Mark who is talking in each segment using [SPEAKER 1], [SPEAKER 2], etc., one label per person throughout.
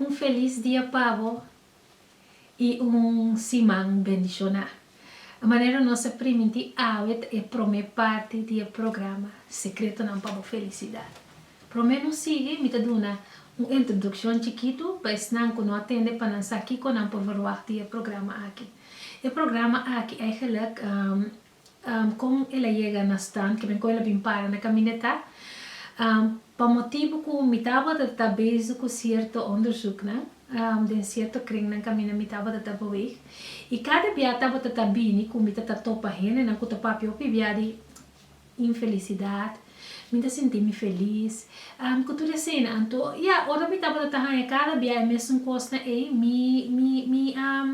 [SPEAKER 1] Un felis dia pabo y un siman bendiciona. E manera nos a primintí awe ta e prome parti di e programa Secretonan pa bo Felicidad. Prome no sigui, mi ta duna un introduccion chikitu pa esnan cu no a tende pa nan sa kico nan por verwagt di e programa aki. E programa aki eigenlijk Kon el a yega na stand kiben kon el a bin para na kamineta? Pa motibu ku mi tabata ta bezig ku sierto onderzuknan den sierto kringnan kaminda mi tabata ta beweg i kada bia tabata ta bini ku mi ta ta topa hendenan ku ta papia hopi bia di infelisidat, mi ta sinti mi felis, ku tur eseinan. Anto, ya, ora mi tabata ta haña kada bia e mesun kosnan ei, mi mi mi a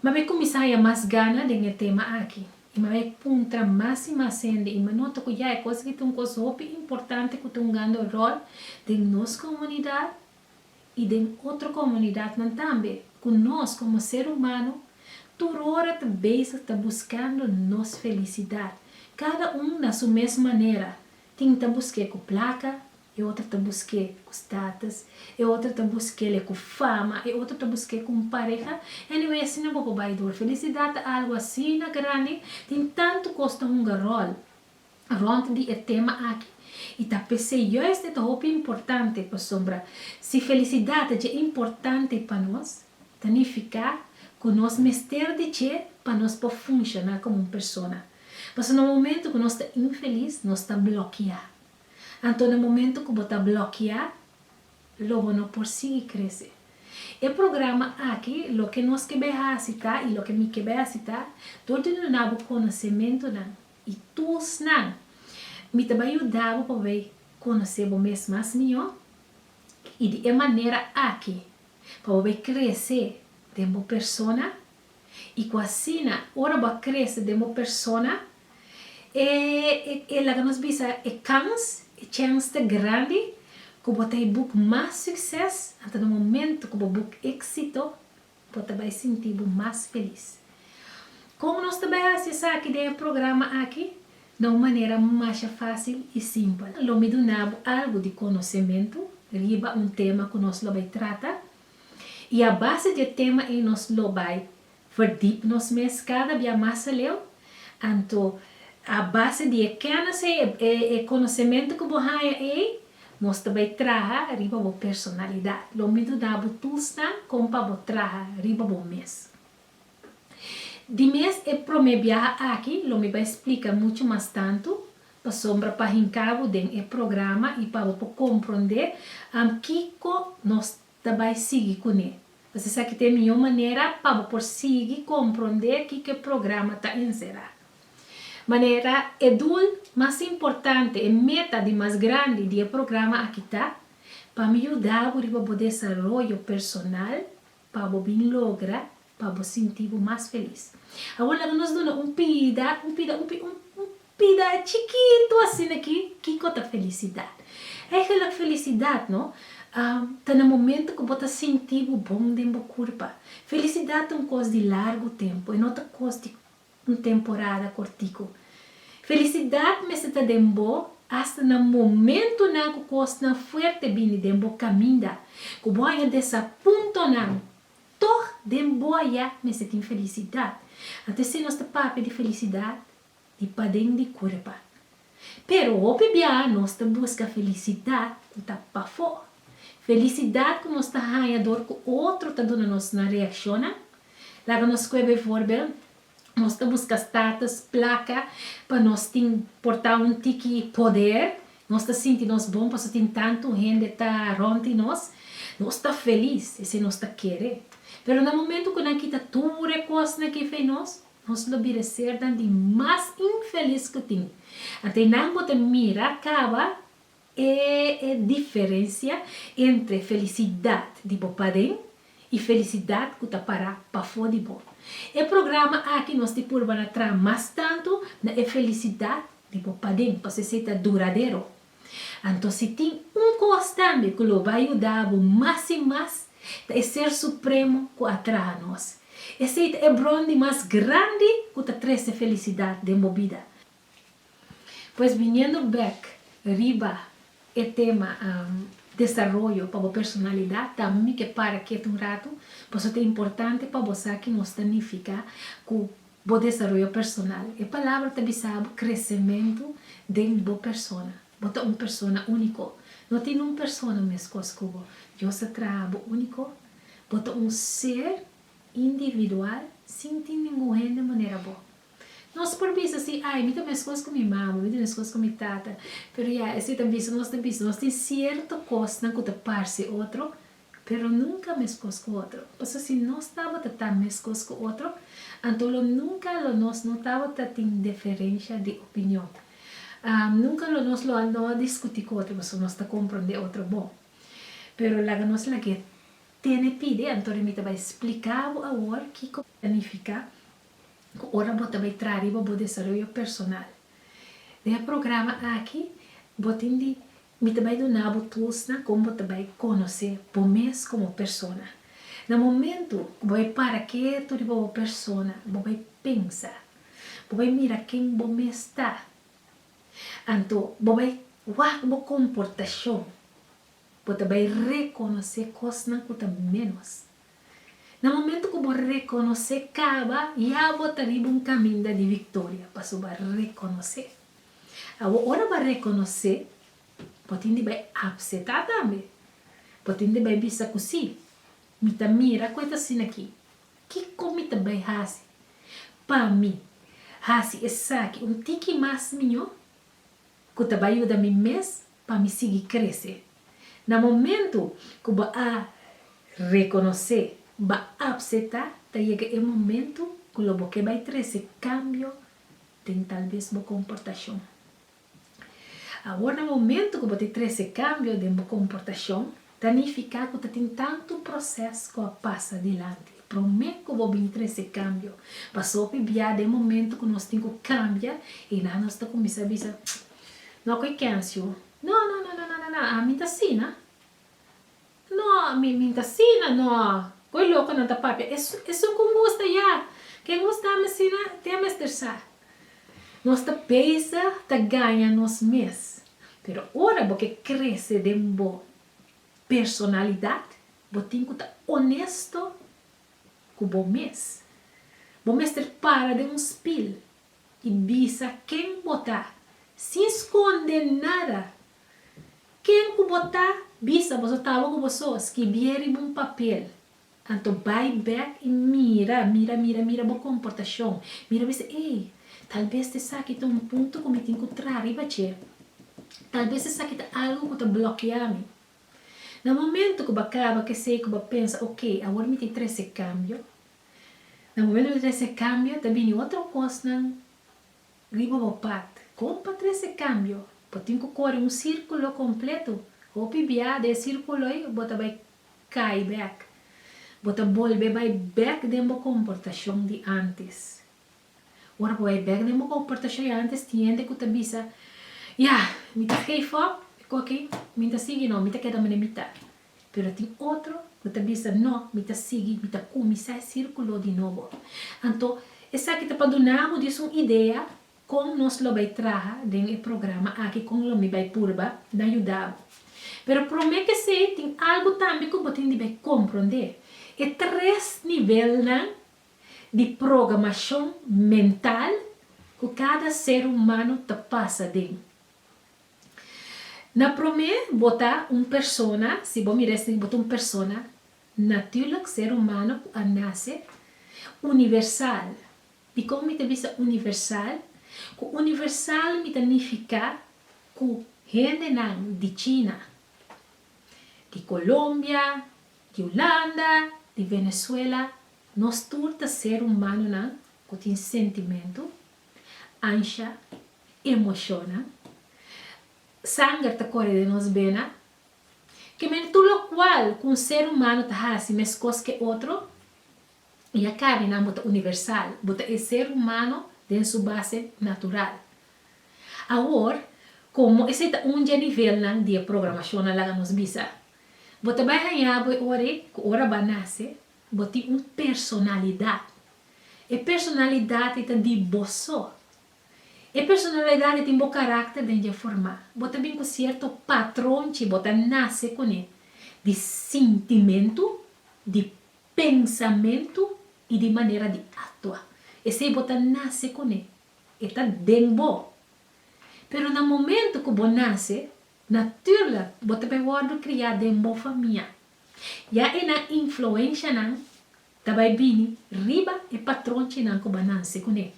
[SPEAKER 1] Mab'e kuminsá haya mas gana den e tema aki, i mab'e puntra mas i mas hende i m'a nota ku ya e kos aki ta un kos hopi importante ku ta hungando ròl den nos komunidat i den otro komunidatnan tambe, ku nos komo ser humano tur ora ta bezig ta buskando nos felisidat, kada un na su mes manera, tin ta busk'é ku plaka, E otro ta busqu'é cu status, e otro ta busque'le cu fama, e otro ta busque'e cu un pareha. Anyway, asina bo por bay door. Felicidad ta algo asina grandi, tin tanto cos ta hunga rol rond di e tema aki y ta p'esey juist e ta hopi importante pasobra si felicidad ta dje importante pa nos, ta nifica cu nos mester di dje pa nos por funciona como un persona. Pasobra na momento cu nos ta infeliz, nos ta bloquea. Anto na momento cu bo ta blokia lo bo no por sigui crece. E programa aki loke nos ke bay haci ta y loke mi ke bay haci ta dor di duna bo conocementonan y tools nan mi ta bay yuda bo pa bay conoce bo mes mas miho y di e manera aki pa bo bay crece den bo persona, I ku asina, ora bo a krese den bo persona, e e laga nos bisa e kans, e chèns ta grandi ku bo ta e buk mas sukses. Anto na momentu ku bo buk éksito, bo ta bai sinti bo mas felis. Kon nos ta bai hasi esaki den e programa aki na un manera masha fásil i simpel? Lo mi duna bo algu di konosementu riba un tema ku nos lo bai trata. I a base di e tema ei nos lo bai verdip nos mes kada bia mas aleu. Anto a base di e kenis ei, e konosementu ku bo haña ei, nos ta bai traha riba bo personalidat. Lo mi duda bo toestan kon pa bo traha riba bo mes. Di mes e prome biaha aki lo mi bai splica mucho mas tanto, pasobra pa hinca bo den e programa y pa bo por compronde am kico nos ta bai sigui cune. Pues esaki ta e mijo manera pa bo por sigui compronde kico e programa ta encera. Manera e doel mas importante, e meta di mas grandi di e programa aki ta, pa mi yuda bo riba bo desaroyo personal, Pa bo bin logra, pa bo sinti bo mas felis. Awor laga nos duna un pida, un pida, un pida, un pida chikitu asina aki, kiko ta felisidat? Eigenlik felisidat no, ta na momentu ku bo ta sinti bo bon den bo kurpa. Felisidat ta un kos di largu tempu, e no ta kos di un temporada cortico. Felicidad mester ta den bo hasta na momentonan cu cosnan fuerte bini den bo caminda, cu bo a haña desapuntonan, tog den bo aya mester tin felicidad. Anto esei nos ta papia di felicidad di paden di cuerpa. Pero hopi biaha nos ta busca felicidad cu ta pafó. Felicidad cu nos ta haña dor cu otro ta duna nos nan reaccionnan. Laga nos scue bevoorbeeld, nos ta busca status, placa, pa nos tin porta un tiki poder. Nos ta sinti nos bon paso tin tantu hende ta rond di nos. Nos ta feliz, esei nos ta kere. Pero na momento cu nan kita tur e cosnan cu e fei nos, Nos lo bira sernan di mas infelis ku tin. Ata e nan bo ta mira kaba e e diferensia entre felisidat di bo paden i felisidat ku ta para pafó di bo. E programa aki nos di purbana traha mas tantu na e felisidat di bo paden, pasobra esei ta duradero. Anto si tin un kos tambe ku lo bai yuda bo mas i mas, ta e Ser Supremo ku a traha nos. Esei ta e bron di mas grandi ku ta trese felisidat den bo bida. Pues biniendo bek riba e tema desaroyo pa bo personalidat, tambe mi ke para ketu un ratu, paso ta importante pa bo sa ke nos ta nifiká ku Bo desaroyo personal. E palabra ta bisa bo kresementu den bo persona. Bo ta un persona úniko. No tin un persona meskos ku bo. Dios a traha bo úniko. Bo ta un ser individual sin tin ningun hende manera bo. Nos por bisa si, Ai, mi ta meskos ku mi mama, mi ta meskos ku mi tata. Pero ya, esei ta bisa nos ta bisa nos tin sierto kosnan ku ta parse otro, Pero nunca mescos cu otro. Pasobra si nos tabata ta mescos cu otro, anto lo nunca lo nos no tabata tin deferencia di opinion. Nunca lo nos lo a no a discuti cu otro, pasobra nos ta comprende otro bon. Pero laga nos lagu'e tene pidi, anto rin mi ta bay splica bo awor kico ta nifica cu ora bo ta bay traha riba bo desaroyo personal. Den e programa aki bo tin di Mi ta bai duna bo tools nan kon bo ta bai konosé bo mes komo persona. Na momentu ku bo bai para ketu riba bo persona, bo bai pensa, bo bai mira ken bo mes ta. Anto bo bai wak bo komportashon, bo ta bai rekonosé kosnan ku ta ménos. Na momentu ku bo rekonosé kaba, ya bo ta riba un kaminda di viktoria, pasobra bo a rekonosé. Awo ora bo a rekonosé, bo tin di bai apsetá tambe. Bo tin di bai bisa ku sí, mi ta mira ku e ta asina akí. Kiko mi ta bai hasi pa mi hasi esaki un tiki mas mió ku ta bai yuda mi mes pa mi sigui krese? Na momentu ku bo a rekonosé, bo a apsetá, ta yega e momentu ku lo bo ke bai trese kambio den talbes bo komportashon. Awor na momentu ku bo ta trese kambio den bo komportashon, ta nifiká ku ta tin tantu proses ku a pasa dilanti promé ku bo bin trese kambio. Pasopi bia den momentu ku nos tin ku kambia i nan nos ta kuminsá bisa, No ku e Kencio. No, no, no, no, no, no, no, ami ta asina. No, mi mi ta sina no. Koe lokonan ta papia es esun ku ngusta ya. Ke ngusta mi sina te a mester sa. Nos ta pesa ta gaña nos mes. Pero ora bo ke krese den bo personalidat, bo tin ku ta onesto ku bo mes. Bo mester para den un spil I bisa ken bo ta, sin skonde nada. Ken ku bo ta, bisa bo so tabo ku bo so. Skibie riba un papel. Anto bai bek i mira, mira, mira, mira bo komportashon. Mira bisa, ey, talbes ta esaki ta un punto ku mi tin ku traha riba dje. Talbes esaki ta algu ku ta blokia mi. Na momentu ku bo a kaba ku esei ku bo a pensa, oke, awor mi tin trese kambio. Na momentu di trese kambio ta bini otro kosnan riba bo pat. Kon pa trese kambio? Bo tin ku kore un sirkulo kompletu. Hopi bia den e sirkulo ei bo ta bai kai bèk. Bo ta bolbe bai bèk den bo komportashon di antes. Ora bo bai bek den bo komportashon i antes tin hende ku ta bisa, Ya, mi ta gave up, e ku aki mi no ta sigui, no, mi ta keda manera mi ta. Pero tin otro ku ta bisa, No, mi ta sigui, mi ta kuminsá e sirkulo di nobo. Anto, esaki ta pa duna bo dies un idea kon nos lo bai traha den e programa aki kon lo mi bai purba na yuda bo. Pero promé kesei tin algu tambe ku bo tin di bai komprondé, e tres nivelnan di programashon mental ku kada ser humano ta pasa den. Na promé bo ta un persona, si bo mira esei bo ta un persona, naturlik ser humano ku a nase, universal. Dikon mi ta bisa universal? Ku universal mi ta nifiká ku hendenan di China, di Colombia, di Hulanda, di Venezuela Nos tur ta ser humanonan cu tin sentimento, ansha, emocionnan. Sanger ta core den nos bena. Ke men tur locual cu un ser humano ta haci mescos ke otro. Y a carninan bo ta universal, bo ta e ser humano den su base natural. Awor, como esey ta un dje nivelnan di e programacionnan laga nos bisa. Bo ta bay hañabo e ora ey cu ora bo a nace, Bo tin un personalidad. E personalidad ei ta di bo so. E personalidad ei tin bo carácter den dje formá. Bo ta bin cu cierto patrón chi bo ta nace cune di sintimentu, di pensamentu i di manera di actua. Esei bo ta nace cune. E ta den bo. Pero na momento cu bo nace, natuerlijk bo ta bay wordo criá den bo famia. Ya e nan influenshanan ta bai bini riba e patronchinan ku bananse kuné.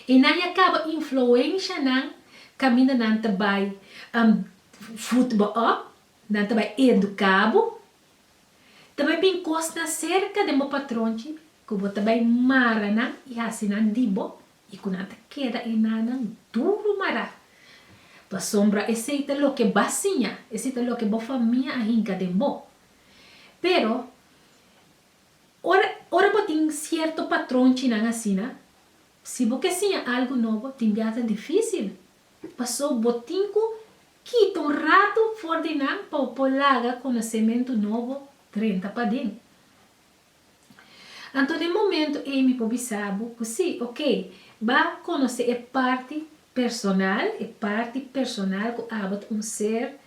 [SPEAKER 1] E nan ya kaba influensha nan kaminda nan ta bai vut bo òp, nan ta bai eduká bo. Ta bai bin kosnan serka den bo patronchi ku bo ta bai mara nan i hasi nan di bo. I ku nan ta keda e nanan duru mará. Pasobra esei ta loke b'a siña, esei ta loke bo famia a hinka den bo. Pero, ora, ora bo tin sierto patronchinan asina, si bo ke siña algu nobo, tin biaha ta difísil. Pasó bo tin ku kita un ratu for di nan pa bo por laga konosementu nobo drenta paden. Anto den momento ei mi por bisa bo cu si, ok, b'a conoce e parti personal, e parti personal cu abo ta un ser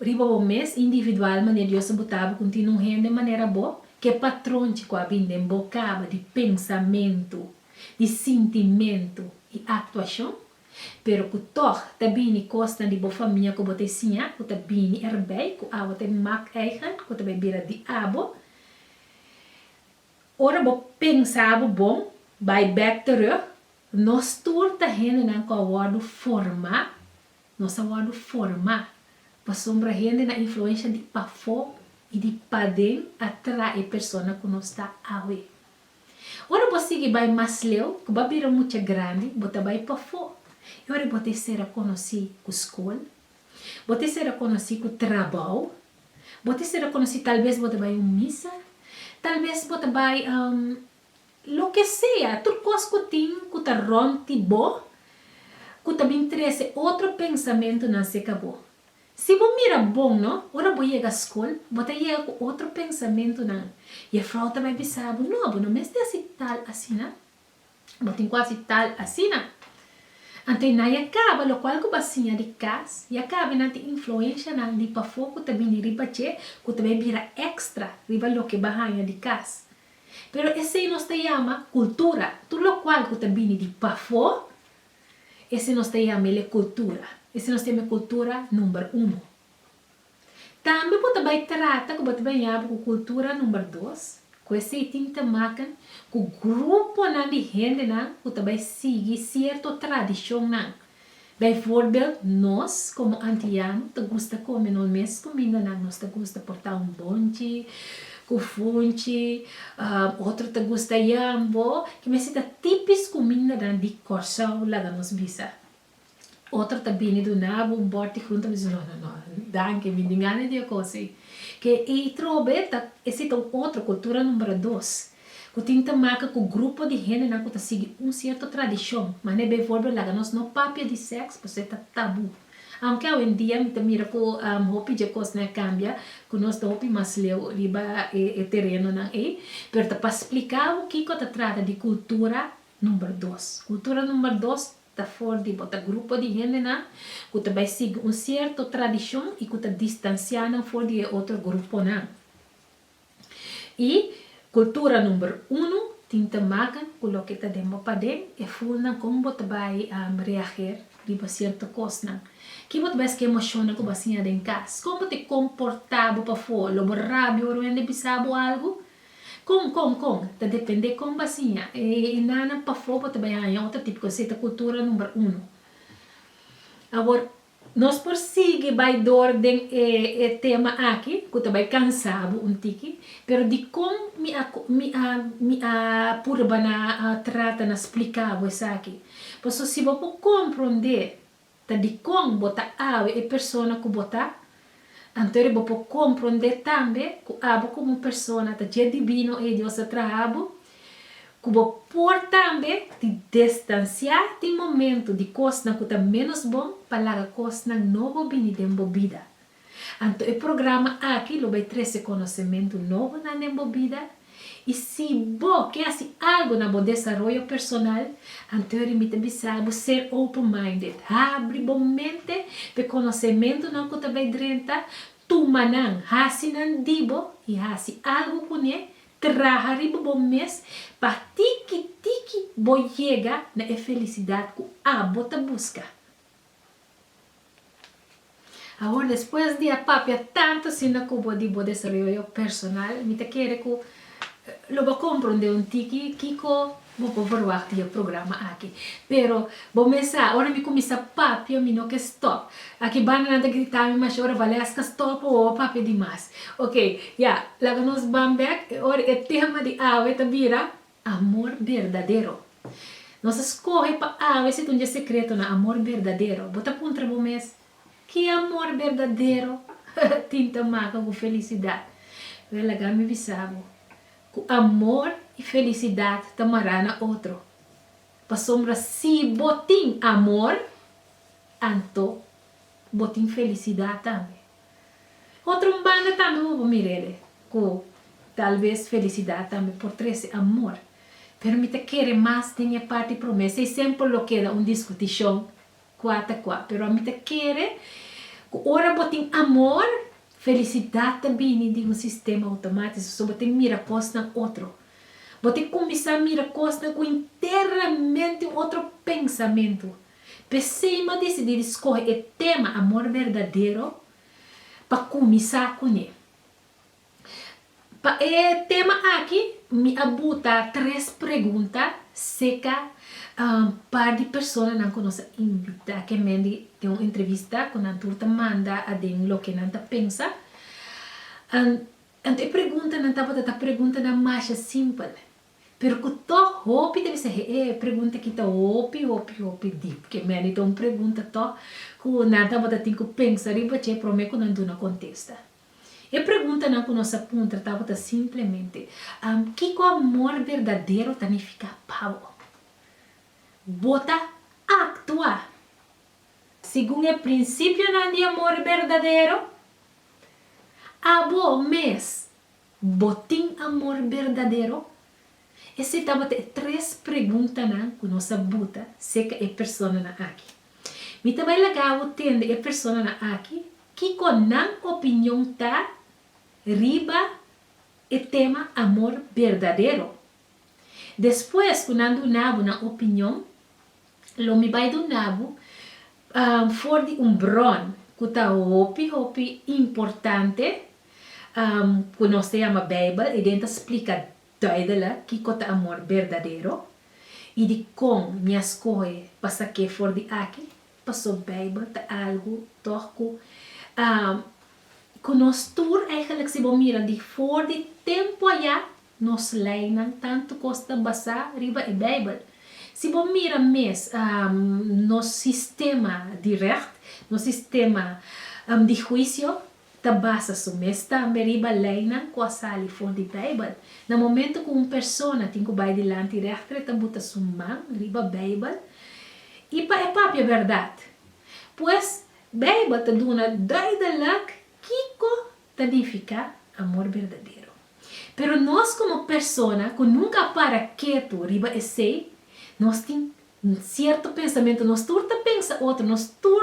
[SPEAKER 1] riba bo mes, individual, manera Dios a buta bo cu tin un hende manera bo, ke patronchi cu a bin den bo caba di pensamento, di sintimento y actuacion, Pero ku tòg ta bini kosnan di bo famia ku bo ta e siña ku ta bini erbei, ku awa ta e mak eigen, ku ta bai bira di abo. Ora bo pensa bo bon, bai bèk terug, nos tur ta hendenan ku a wòrdu forma, nos a wòrdu forma, pasobra hende na influensha di pafó i di paden a traha e persona ku nos ta awe. Ora bo sigui bai mas leu, ku bo a bira mucha grandi, bo ta bai pafó i ora bo ta e ser a konosí ku skol, bo ta e ser a konosí ku trabou, bo ta e ser a konosí talbes bo ta bai un misa, talbes bo ta bai loke sea, tur kos ku tin ku ta rònt di bo ku ta bin trese otro pensamentunan serka bo. Si bo mira bon no, ora bo yega skol, bo ta yega ku otro pensamentunan. Jefrouw ta bai bisa bo, No, bo no mester hasi tal asina. Bo tin ku hasi tal asina. Anto nan ya kaba lokual ku bo a siña di kas, ya kaba i nan tin influenshanan di pafó ku ta bini riba dje ku ta bai bira èkstra riba loke bo a haña di kas. Pero esei nos ta yama kultura. Tur lokual ku ta bini di pafó, E si nos ta yama el e kultura, e si nos ta yama e kultura number uno. Tambe bo ta bai trata ku bo ta baña bo ku kultura number dos, ku esei tin ta maken ku gruponan di hendenan ku ta bai sigui sierto tradishonnan. Bijvoorbeeld nos komo Antiano ta gusta kome nos mes kumindanan, nos ta gusta portá un bonchi, Ku funchi, otro ta gusta yambo, ki mester ta tipis kumindanan di Kòrsou, laga nos bisa. Otro ta bini dunabo un bòrt di frunta, mi dici no, no, no, danki, mi di ngana di e kosi. Ke ei trobe ta, esi ta un otro, kultura numbra dos, ku tin ta maka ku grupo di hendenan ku ta sigui un sierto tradishon, manera b'e volbe laga nos no papia di sèks, pasobra ta tabú. Aunke awendia mi ta mira ku hopi dje kosnan a kambia, ku nos ta hopi mas leu riba e terenonan ei, pero ta pa splika bo kiko ta trata di kultura number dos. Kultura number dos ta for di bo, ta grupo di hendenan ku ta bai sigui un sierto tradishon i ku ta distansiá nan for di e otro gruponan. Y cultura number uno tin te maca cu loke ta den bo paden, e fulnan con bo ta bay reager riba cierto cosnan. Ki bo ta bay esque emocionnan cu bo a siña den cas? Con bo ta comporta bo pafor? Lo bo rabia ora wende bisa bo algo? Con, con, con? Ta depende con bo a siña e nanan pafor bo ta bay haña otro tipo cos. Esey ta cultura number uno. Awor Nos por sigui bai door den e e tema aki cu ta bai cansa bo un tiki, pero dicon mi a mi a mi a purba na a trata na splica bo esaki. Paso si bo por comprende ta dicon bo ta awe e persona cu bo ta Anto ora bo por comprende tambe cu abo como un persona ta dje divino ey Dios a traha bo, cu bo por tambe di destancia di momento di cosnan cu ta menos bon pa laga cosnan nobo bini den bo bida. Anto e programa aki lo bay trece conocemento nobo nan den bo bida. I si bo ke hasi algu na bo desaroyo personal, antori mi ta bisa bo ser open-minded. Habri bo mente pa e konosementunan ku ta bai drenta, tuma nan, hasi nan di bo i hasi algu kuné. Traha riba bo mes pa tiki tiki bo yega na e felisidat ku abo ta buska. Awor despues di a papia tantu asina ku bo di bo desaroyo personal, mi ta kere ku lo bo a komprondé un tiki kiko bo por verwagt di e programa aki. Pero bo mes sa, ora mi kuminsá papia mi no ke stòp. Aki Bananan ta gritá mi masha ora, Valesca stòp awo, bo a papia dimas. Oke, ya, laga nos ban bèk, e ora e tema di awe ta bira Amor berdadero. Nos a skohe pa awe si ta un dje sekretonan, amor berdadero. Bo ta puntra bo mes, Ki amor berdadero tin ta maka ku felisidat? Wèl, laga mi bisa bo ku amor i felisidat ta mará na otro. Pasobra si bo tin amor, anto bo tin felisidat tambe. Otro un banda tambe bo por mir'é ku tal bes felisidad tambe por trese amor. Pero mi ta kere mas den e parti promé. Esei semper lo keda un diskutishon kua ta kua. Pero mi ta kere ku ora bo tin amor, felisidad ta bini di un sistema outomátiso. So bo ta mira kosnan otro. Bo ta kuminsá mira kosnan ku internamente un otro pensamentu. P'esei m'ha decidí di scoge e tema Amor Verdadero pa cuminsá cun'e. Pa e tema aki mi a buta tres pregunta cerca un par di personanan cu nos a invitá cu men di tin un entrevista cu nan tur ta manda aden loke nan ta pensa. Anto e preguntanan tabata ta preguntanan masha simpel. Pero ku tòg hopi ta bisa e pregunta ki ta hopi hopi hopi dip. Ke meni ta un pregunta tòg ku nan tabata tin ku pensa riba dje promé ku nan duna kontesta. E preguntanan ku nos a puntra tabata simplemente, Kiko amor berdadero ta nifiká pa bo? Bo ta aktua segun e prinsipionan di amor berdadero? Abo mes. Bo tin amor berdadero? Esei tabata e tres preguntanan ku nos a buta serka e personanan aki. Mi ta bai laga bo tende e personanan aki kiko nan opinion ta riba e tema amor berdadero. Despues ku nan duna bo nan opinion, Lo mi bai duna bo for di un bron ku ta hopi hopi importante ku nos ta yama Beibel. E den ta splika duidelik kiko ta amor berdadero i dikon mi a skohe pa sa ke for di aki. Paso Beibel ta algu tòg ku ku nos tur, eigelijk si bo mira di for di tempu ayá Nos leinan tantu kos ta basá riba e Beibel. Si bo mira mes nos sistema di règt, nos sistema di huisio, ta basa su mes tambe riba leinan ku a sali for di Beibel. Na momentu ku un persona tin ku bai dilanti règter e ta buta su man riba Beibel i pa e papia bèrdat. Pues, Beibel ta duna duidelijk kiko ta nifiká amor berdadero. Pero nos komo persona ku nunka a para ketu riba esei, nos tin sierto pensamentu, nos tur ta pensa otro, nos tur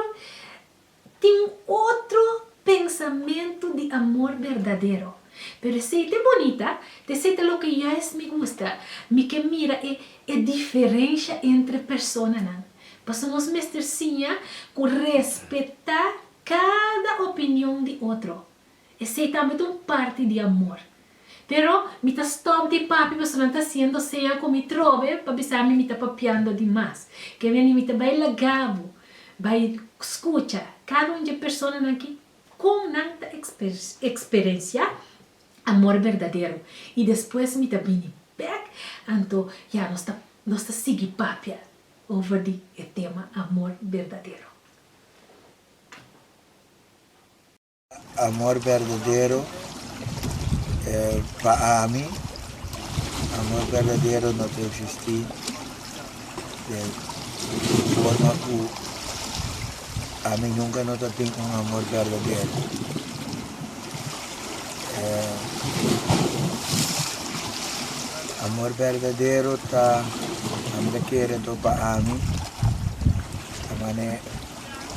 [SPEAKER 1] tin otro pensamentu di amor berdadero. Pero esei ta e bonita, ta esei ta loke yais mi gusta, mi ke mira e e diferensha entre personanan. Pasobra nos mester siña ku respetá Kada opinion di otro, esei tambe ta un parti di amor. Pero mi ta stop di papia pasobra nan ta hasiendo seña ku mi trobe pa bisa mi mi ta papiando di mas. Ke bier mi ta bai laga bo bai skucha kada un dje personanan ki kon nan ta eksperensiá amor berdadero i despues mi ta bini bèk. Anto ya nos ta nos ta sigui papia over di e tema amor berdadero. Amor berdadero pa ami, amor berdadero no ta existi den forma ku ami nunka no ta tin un amor berdadero. Amor berdadero ta ami ta kere anto pa ami. Ta man'é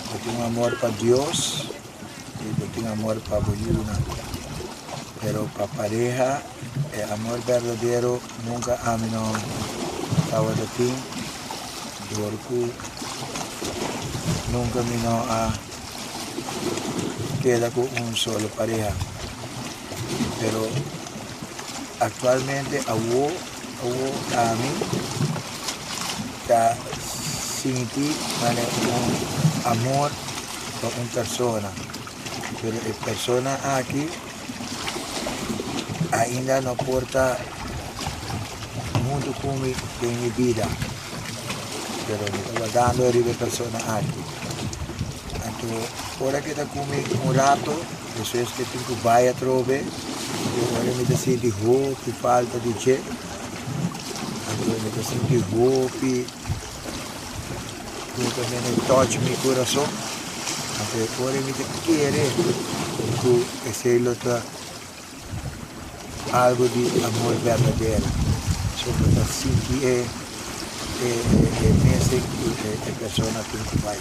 [SPEAKER 1] bo tin un amor pa Dios i bo tin amor pa bo yunan. Pero pa pareha e amor berdadero nunka ami no tawata tin dor ku nunka mi no a keda ku un solo pareha. Pero aktualmente awo. Ku ami ta sinti manera ku un amor pa un persona, pero e persona aki ainda no por ta huntu ku mi den mi bida, pero mi ta wardando riba e persona aki. Anto ora ke ta ku mi un rato Eso es ke tin ku bai atrobe, pasobra ora mi ta sinti hopi falta di dje, atrobe mi ta sinti hopi ku ta bini touch mi kurason, anto ora mi ta kere ku esei lo ta algu di amor berdadero, so pa ta sinti e e mesen ku e persona tin ku bai.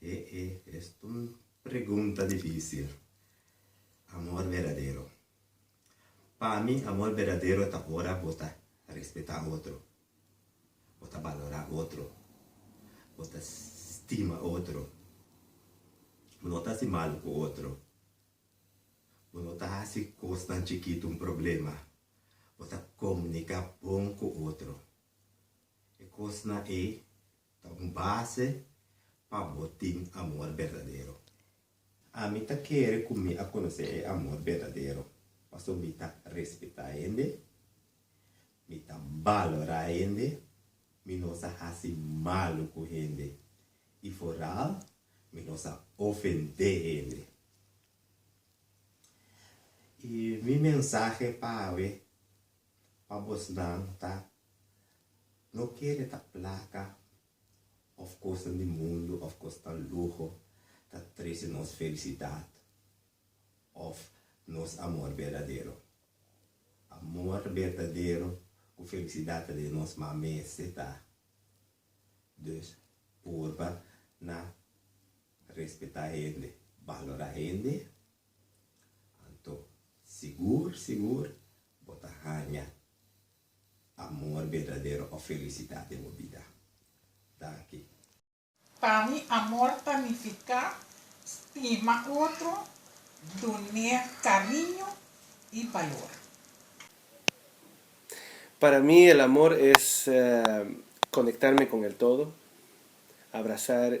[SPEAKER 1] E e es un pregunta dificil. Amor verdadero. Pa mi amor verdadero ta ora bo ta respeta otro, bo ta balora otro, bo ta stima otro, bo no ta hasi malo cu otro, bo no ta hasi cosnan chikitu un problema, bo ta comunica bon cu otro. E cosnan e Ta un base pa bo tin amor berdadero. Ami ta kere ku mi a konosé e amor berdadero pasobra mi ta respetá hende, mi ta balorá hende, mi no sa hasi malu ku hende i foral mi no sa ofendé hende. I mi mensahe pa awe. pa bosnan ta, No kere ta plaka òf kosnan di mundu òf kosnan luho ta trese nos felisidat òf nos amor berdadero. Amor berdadero ku felisidat ta den nos ma mester ta. Dus purba na respetá hende, balorá hende, anto sigur sigur Bo ta haña amor berdadero òf felisidat den bo bida? Danki. Pa mi amor ta nifiká stima otro, dun'é kariño i balor. Para mi el amor es konektarme kon el todo, abrasar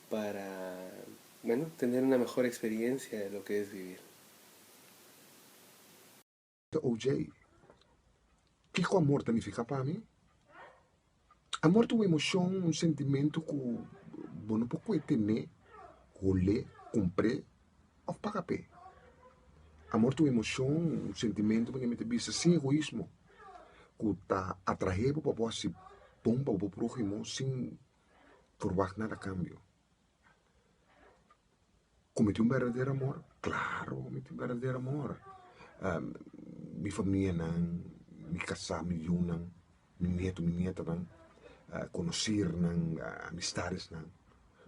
[SPEAKER 1] Para, bueno, tener una mejor experiencia de loke es vivir. Ta OJ. Kiko amor ta nifiká pa mi? Amor ta un emoshon, un sentimentu ku bo no por kue tené, hol'é, kumpr'é òf paga p'é. Amor ta un emoshon, un sentimentu ku ta bista sin egoismo, ku ta atrah'é bo pa bo hasi bon pa bo próhimo sin. Forward nada cambio cometi un berdadero amor claro cometi un berdadero amor mi famia nan mi casa mi yu nan mi nieto mi nieta nan conocer nan amistades nan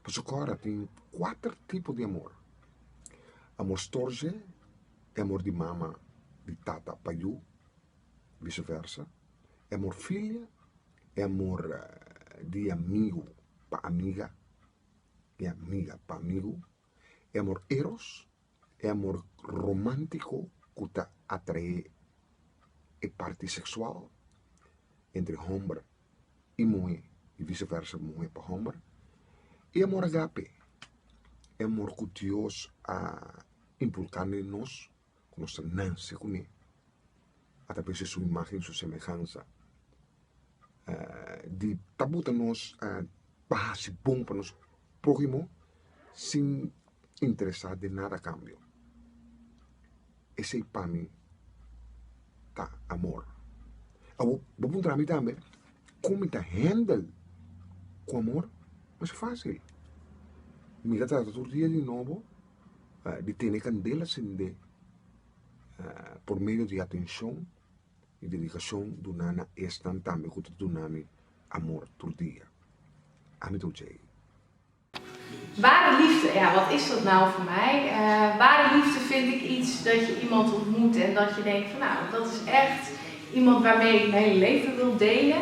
[SPEAKER 1] pasobra su cora tin cuater tipo di amor amor storge y amor di mama y tata pa yu viceversa y amor filia. E amor di amigu pa amiga, di amiga pa amigu, e amor eros, e amor romántiko ku ta atraé e parti seksual entre hòmber i muhé i vise versa muhé pa hòmber, i e amor agape, e amor ku Dios a inpulká den nos. ku nos ta nanse kuné, a ta bese su imágen, su semehansa. Di ta buta nos pa hasi bon pa nos próhimo sin interesá den nada a kambio. Esei pa mi ta amor. Awor, bo puntra mi tambe, kon mi ta hendel ku amor? Mas fásil, mi ta trata tur dia di nobo di tene candela cende por medio di atencion y dedicacion duna na esnan tambe cu ta duna mi amor tur dia. Ami ta oja ey. Ware liefde, ja, wat is dat nou voor mij? Ware liefde vind ik iets dat je iemand ontmoet en dat je denkt van nou, dat is echt iemand waarmee ik mijn hele leven wil delen.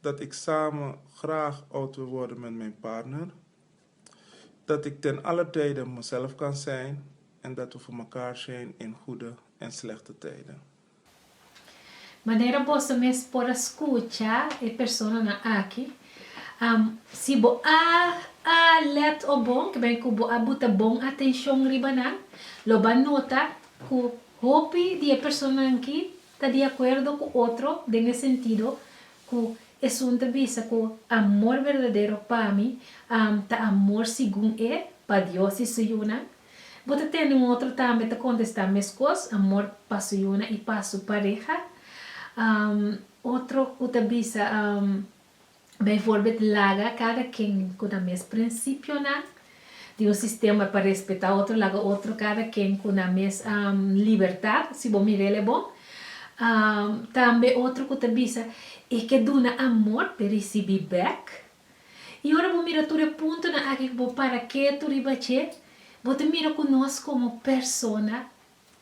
[SPEAKER 1] Dat ik samen graag oud wil worden met mijn partner. Dat ik ten alle tijden mezelf kan zijn en dat we voor mekaar zijn in goede en slechte tijden. Manera boso mes por a skucha e personanan aki, si bo a alert o bon, ke bai ku bo a buta bon atenshon riba nan, lo bo a nota ku hopi di e personanki Ta di akuerdo ku otro den e sentido ku esun ta bisa ku amor berdadero pa mi ta amor segun e pa Dios i su yunan? Bo ta tende un otro tambe ta kontestá meskos, amor pa su yunan i pa su pareha. Otro ku ta bisa Bijvoorbeeld laga kada ken ku nan mes prinsipionan, tin un sistema pa respetá otro, laga otro kada ken ku nan mes libertat, si bo mira el e bon. Tambe otro ku ta bisa, E ke duna amor pe risibí bèk. I ora bo mira tur e puntonan aki ku bo para ketu riba dje, bo ta mira ku nos komo persona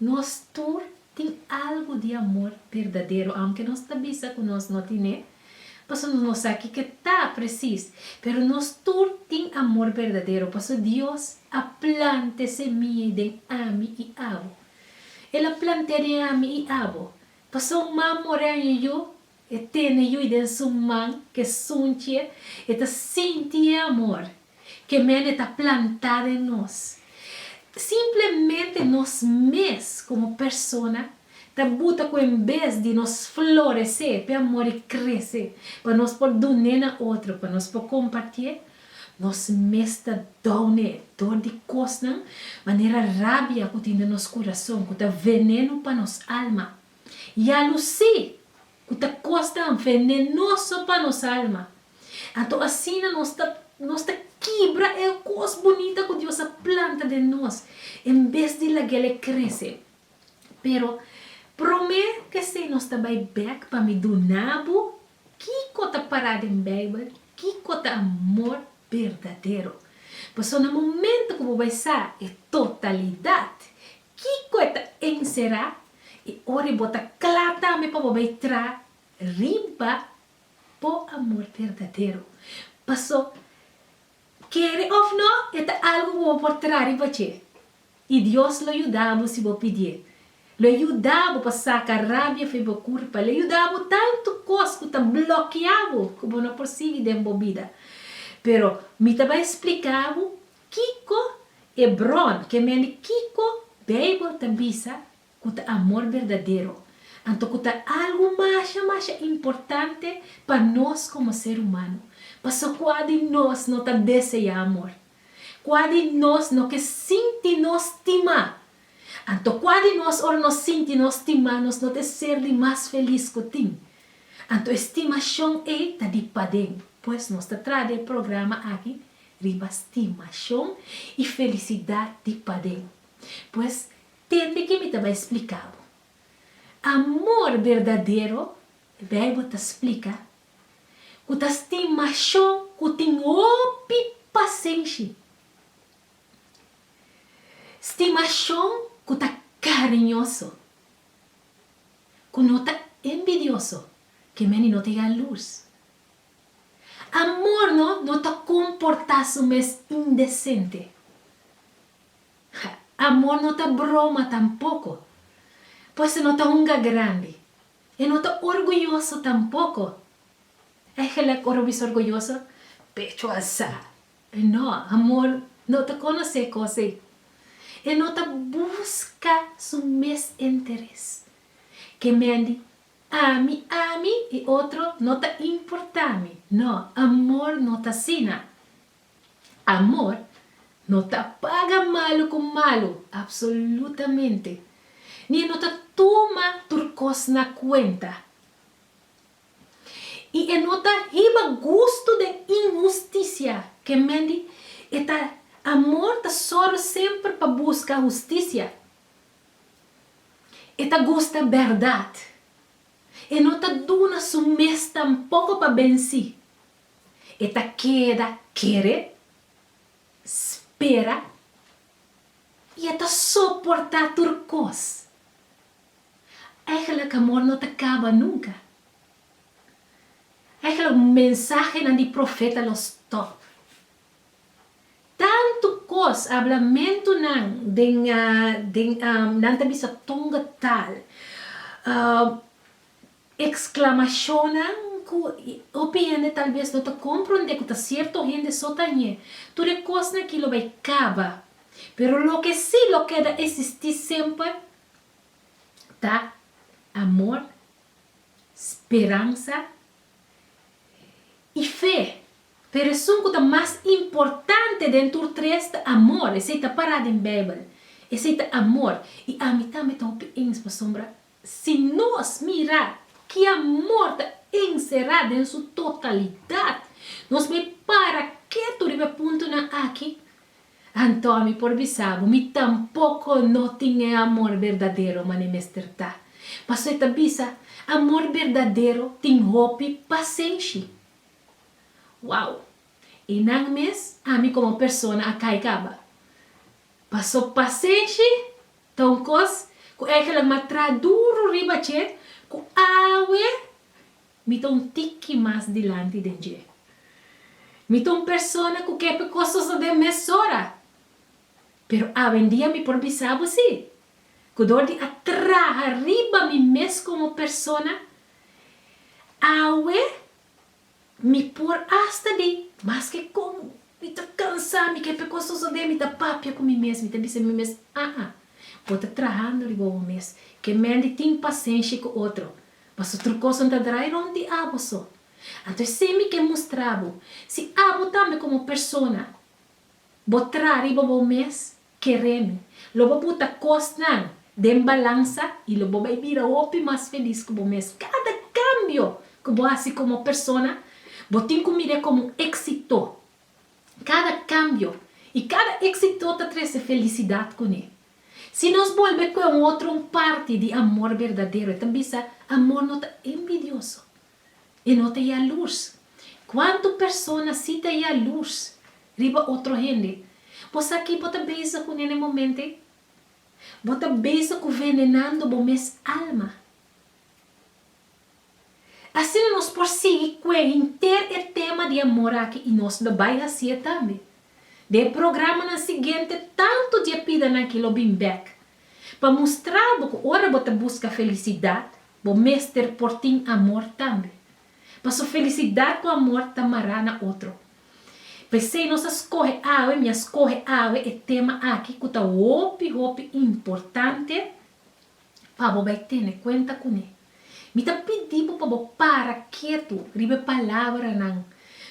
[SPEAKER 1] Nos tur tin algu di amor berdadero, aunke nos ta bisa cu nos no tin'e, paso nos no sa kiko ta precies, pero nos tur tin amor berdadero, paso Dios a plant'e semilla den ami y abo. El a plant'e den ami y abo, paso un man mor'e aña yu, E tene yu den su man, ke sunchie, e ta sinti e amor ke mene ta plantá den nos. Simplemente nos mes, komo persona, ta buta ku en bes di nos floresé p'e amor i krese pa nos por dun'é na otro, pa nos por kompartié, nos mes ta doune dor di kosnan manera rabia ku tin den nos kurason, ku ta venenu pa nos alma. Ya lo sí, cu ta costa un venenoso pa nos alma. Anto asina nos ta nos ta kibra e cos bunita cu Dios a planta den nos, en bes di lagele crece. Pero, prome kesey nos ta bay bek pa mi duna bo kico ta para den Bijbel, kico ta amor berdadero. Pasobra na momento cu bo bay sa e totalidad, Kiko e ta enserá i ora e bo ta kla tambe pa bo bai tra riba bo amor berdadero. Paso, kere òf nò, e ta algu ku bo por tra riba dje. I Dios lo yuda bo si bo pidié. Lo e yuda bo pa saka rabia fe bo kurpa. Lo e yuda bo tantu kos ku ta blokeá bo ku bo no por sigui den bo bida. Pero mi ta bai spliká bo Kiko e bron, ke mende kiko Beibel ta bisa ku ta amor berdadero, anto ku ta algu masha masha importante pa nos komo ser humano? Paso kua di nos no ta deseá amor? Kua di nos no ke sinti nos stimá? Anto kua di nos ora no sinti nos stimá nos no ta e ser di mas felis ku tin? Anto e stimashon ei ta di paden. Pues nos ta traha den e programa aki riba stimashon i felisidat di paden. Pues, tende ke mi ta bai splika bo. Amor berdadero, Beibel ta splika ku ta stimashon ku tin hopi pasenshi. Stimashon ku ta kariñoso, ku no ta enbidioso, ke meni no ta yalurs. Amor no no ta comporta su mes indecente. Amor no ta broma tampoco. Pues e no ta hunga grandi. E no ta orguyoso tampoco. E gelijk ora bisa orguyoso, pecho alsa. No, amor no ta conoce e cos ey. E no ta busca su mes interes. Ke mendi Ami, ami i otro no ta importá mi. No, amor no ta asina. Amor no ta paga malu ku malu, apsolutamente, ni e no ta tuma tur kos na kuenta. I e no ta hiba gustu den inhustisia, ke men di e ta amor ta sòru semper pa buska hustisia. E ta gusta bèrdat. E no ta duna su mes tampoko pa bensí. E ta keda kere, spera i e ta soportá tur kos. Ègèlèk amor no ta kaba nunka. Ègèlèk mensahenan di profeta lo stòp. Tantu kos hablamentunan den den am nan ta bisa tonga tal am exclamacionnan cu hopi hende tal vez no ta compronde cu ta cierto hende so ta ñe tur e kosnan aki lo bay caba pero loke si lo keda existi semper ta amor, speransa i fe. P'e reson ku ta mas importante den tur tres ta amor. Esei ta pará den Beibel. Esei ta amor. I ami tambe ta hopi ens pasobra si nos mira ki amor ta enserá den su totalidat, nos mei para ketu riba e puntonan akí. Antò mi por bisa bo, mi tampoko no tin e amor berdadero man'e mester ta. Pasobra e ta bisa, Amor berdadero tin hopi pasenshi. Wow! Einan mes ami komo persona a kai kaba. Pasobra pasenshi ta un kos ku Egeland m'a traha duru riba dje ku awe. Mi ta un tiki mas dilanti den dje. Mi ta un persona ku ke pe kosas na den mesora. Pero awendia mi por bisa bo si, ku dor di a traha riba mi mes komo persona, awe mi por asta di, maske kon mi ta kansá, mi ke pe kosas na den, mi ta papia ku mi mes, mi ta bisa mi mes, aa, bo ta trahando riba bo mes. Ke mende tin pasenshi ku otro. Paso tur coson ta draai rond di abo so. Anto esei mi ke mustra bo, si abo tambe como persona bo traha riba bo mes, kere mi, lo bo puta cosnan den balansa y lo bo bay bira hopi mas feliz cu bo mes. Cada cambio cu bo haci como persona, bo tin cu mire como un exito. Cada cambio y cada exito ta trece felicidad cune. Si nos bolbe kue un otro un parti di amor berdadero, e ta bisa, Amor no ta enbidioso, e no ta yalurs. Kuantu persona si ta yalurs riba otro hende? Bo sa ki bo ta bezig ku nene momente? Bo ta bezig ku venenando bo mes alma. Asina nos por sigui kue henter e tema di amor aki i nos lo bai hasie tambe. Den e programanan siguiente tantu di e pidanan aki lo bin bek pa mustra bo ku ora bo ta buska felisidat bo mester por tin amor tambe. Paso felisidat ku amor ta mará na otro. P'esei nos a skohe awe, mi a skohe awe e tema aki ku ta hopi hopi importante. pa bo bai tene kuenta kuné. Mi ta pidi bo pa bo para ketu riba e palabranan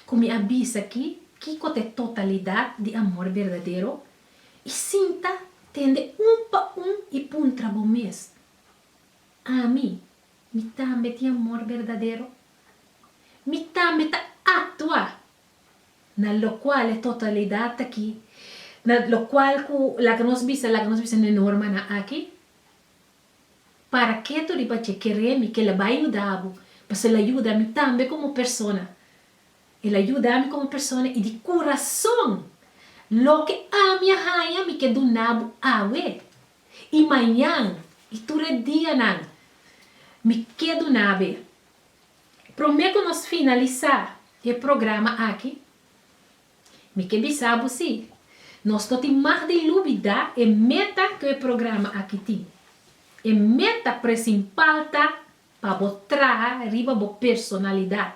[SPEAKER 1] ku mi a bisa akí, kiko ta e totalidat di amor berdadero? I sinta, tende un pa un i puntra bo mes, Ami, mi tambe tin amor berdadero? Mi tambe ta aktua Na locual e totalidad taki, na locual cu laga nos bisa, laga nos bisa na e normanan aki, Paraqué tur riba dje keré mi? Kel a bai yuda bo, pasobra el a yuda mi tambe como persona. El a yuda mi como persona i di curazon, loke ami a haña mi ke duna bo awe, i mañan, i tur e dianan mi ke duna bo e. Promé ku nos finalisá e programa aki, mi ke bisa bo si, nos no tin mag di lubidá e meta ku e programa aki tin. E meta presimpal ta pa bo traha riba bo personalidat.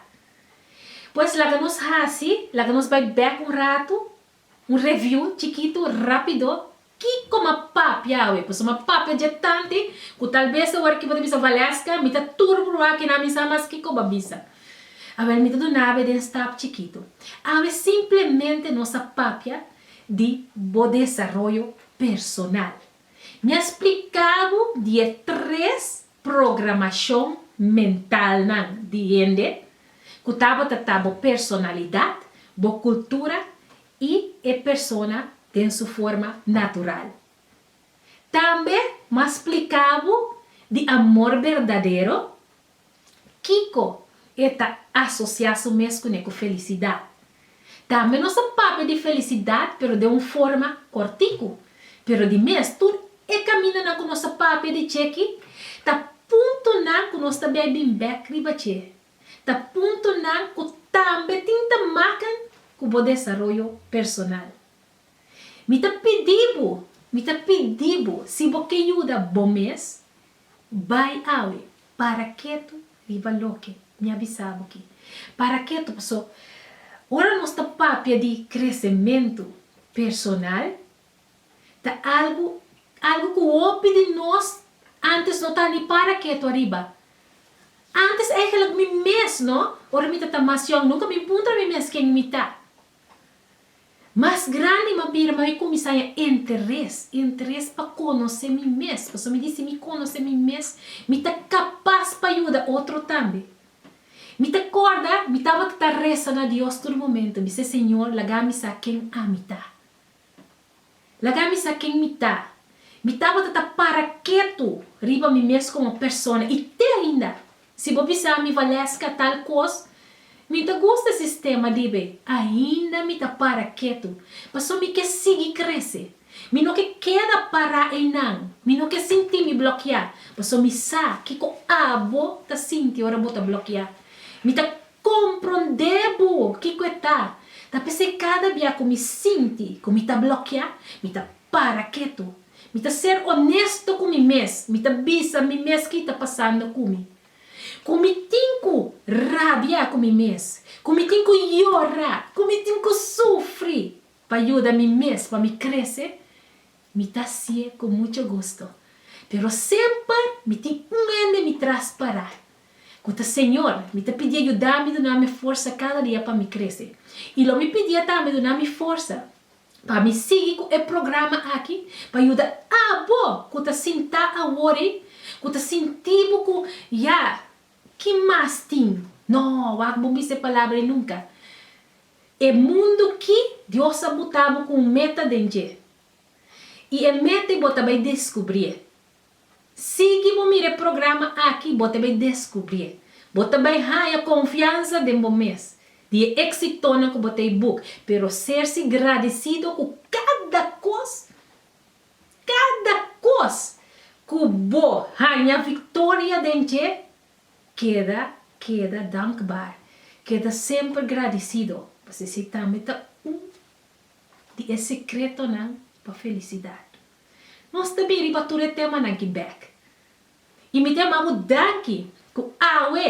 [SPEAKER 1] Pues laga nos hasi, laga nos bai bèk un ratu, un reviú chikitu rápido Kiko m'a papia awe? Pasobra m'a papia dje tanti ku tal bes e ora ki bo ta bisa Valesca, mi ta tur pruba aki na mi sa mas kiko bo a bisa. Awel mi ta duna awe den stap chikitu. Awe simplemente nos a papia di bo desaroyo personal. Mi a splika bo di e tres programashon mentalnan di hende ku tabata ta bo personalidat, bo kultura i e persona den su forma natural. Tambe m'a spliká bo di amor berdadero, kiko e ta asosiá su mes kuné ku felisidat. Tambe nos a papia di felisidat pero den un forma kòrtiku. Pero di mes, tur e kamindanan ku nos a papia di dje aki ta puntonan ku nos ta bai bin bèk riba dje Ta puntonan ku tambe tin ta maken ku bo desaroyo personal. Mi ta pidi bo, mi ta pidi bo, si bo ke yuda bo mes, bai awe. Para ketu riba loke mi a bisa bo aki. Para ketu paso ora nos ta papia di kresementu personal, Ta algu algu ku hopi di nos antes no ta ni para ketu ariba. Antes eigenlik mi mes no, ora mi ta ta mas yòn, nunka mi puntra mi mes ken mi ta. Mas grandi mi a bira mi a kuminsá ya interes, interes pa konosé mi mes, pasobra mi di si mi konosé mi mes mi ta kapas pa yuda otro tambe. Mi ta kòrda mi tabata ta resa na Dios tur momento, mi se, Señor, laga mi sa ken ami ta. Laga mi sa ken mi ta. Mi tabata ta para ketu riba mi mes komo persona i te ainda si bo bisa mi valeska tal kos mi ta gusta sistema dibe ainda mi ta para ketu paso mi ke sigui krese mi no ke keda pará einan mi no ke sinti mi blokiá paso mi sa kiko abo ta sinti ora bo ta blokiá mi ta Komprondé bo kiko e ta. Ta p'esei kada bia ku mi sinti ku mi ta blokiá, mi ta para ketu. Mi ta ser onesto ku mi mes, mi ta bisa mi mes ki ta pasando ku mi. Ku mi tin ku rabia ku mi mes, ku mi tin ku yora, ku mi tin ku sufri pa yuda mi mes pa mi krese, mi ta hasié ku muchu gusto. Pero semper mi tin un hende mi tras pará, ku ta, Señor, mi ta pidié yudami dunami forsa kada dia pa mi krese. I lo mi pidié tambe dunami forsa pa mi sigui ku e programa aki pa yuda abo ku ta sintá awori ku ta sinti bo ku ya ki mas tin. No, wak bo misa e palabra ei nunka. E mundu ki, Dios a buta bo ku un meta den dje. I e meta ei bo ta bai deskubrié. Sigui bo mira e programa aki bo ta bay descubrié. Bo ta bay haya confianza den bo mes, di e exitonan cu bo ta y boek, pero sersi gradicido cu cada cos, cada cos cu bo haña victoria den dje, keda, keda dankbaar, keda semper gradicido, p'esei tambe ta un di e secretonan pa felicidad. Nos ta bini pa tur e temanan ki bek. I mi ta yama bo danki ku awe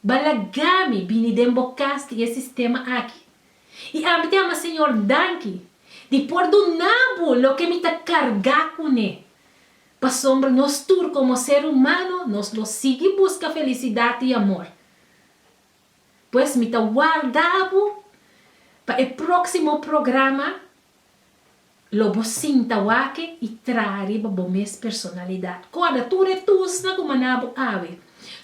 [SPEAKER 1] bo a laga mi bini den bokas di e sistema aki. I ami ta yama Señor danki di por duna bo loke mi ta karga kuné. Pasobra nos tur komo ser humano nos lo sigui buska felisidat i amor. Pues mi ta warda bo pa e próksimo programa. Lo bo sinta wake i traha riba bo mes personalidat. Kòrda tur e tusnan ku maná bo awe,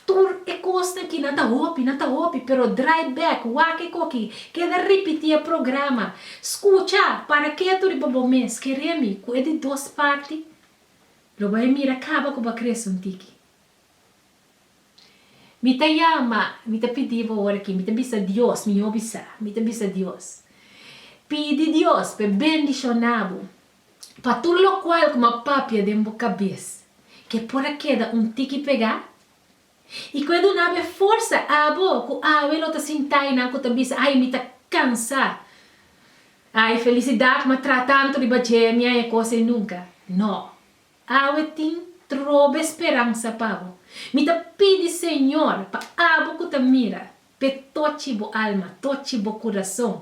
[SPEAKER 1] tur e kosnan ki nan ta hopi, nan ta hopi, pero drai bèk, wake koki, keda ripití e programa, skucha, para ketu riba bo mes, keremi ku e di dos parti, lo bo a mira kaba ku bo a krese un tiki. Mi ta yama, mi ta pidi bo ora aki, mi ta bisa Dios, mi yo bisa, mi ta bisa Dios. Pidi Dios pa e bendishona bo, pa tur lokual ku mi a papia den bo kabes, ke por a keda un tiki pegá, i ku e duna bo e forsa, abo ku awe lo ta sintá ei nan ku ta bisa, Ai, mi ta kansá, ai, felisidat, mi a traha tantu riba dje, mi a e kos ei nunka. No. Awe tin trobe speransa pa bo. Mi ta pidi Señor pa abo cu ta mira, pe tochi bo alma, tochi bo curason.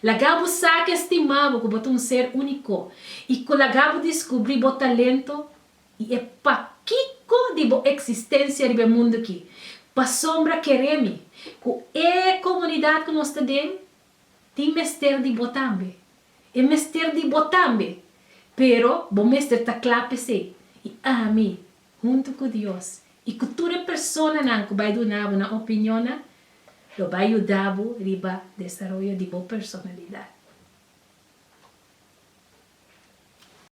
[SPEAKER 1] Laga bo sa cu estima bo cu bo ta un ser unico y cu laga bo discubri bo talento y e pakico di bo existencia riba e mundo ki. Pasobra keremi cu e comunidad cu nos ta den Tin mester di bo tambe. E mester di bo tambe. Pero bo mester ta kla pa esei, i ami, huntu ku Dios i ku tur e personanan ku bai duna bo nan opinionnan, lo bai yuda bo riba desaroyo di bo personalidat.